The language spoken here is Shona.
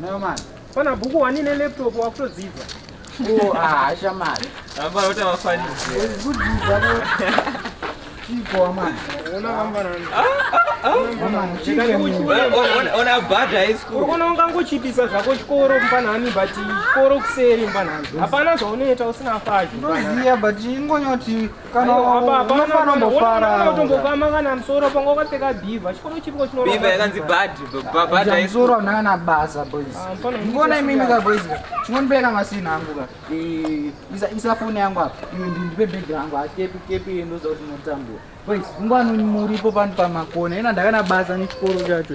No man. Pana bhuku wani ne laptop wakutodzidza. Oh, ah, shamari. Amba rota wafani. Kudzidza ko. Chiko wamana. Ona vambana. Ona bhadha yesikuru. Unoona ungangochipisa zvako chikoro mpanhani but chikoro kuseri mpanhani. Hapana zvaunoita usina faji. Ndoziya but ingonyoti kana unofana umbofara utombokama kana msoro panga wakapfeka bhiva chikoro chipiko chino bhiva yakanzi bad bad bad msoro unanga na basa boys ah, ngona imimi ka boys chinondibeka ngasina hangu ka isa isa phone yangu apa ndipe bag yangu akepi ah, kepi ndo zoti notambura boys ngwana muripo pano pamakona ina ndakana basa nechikoro chacho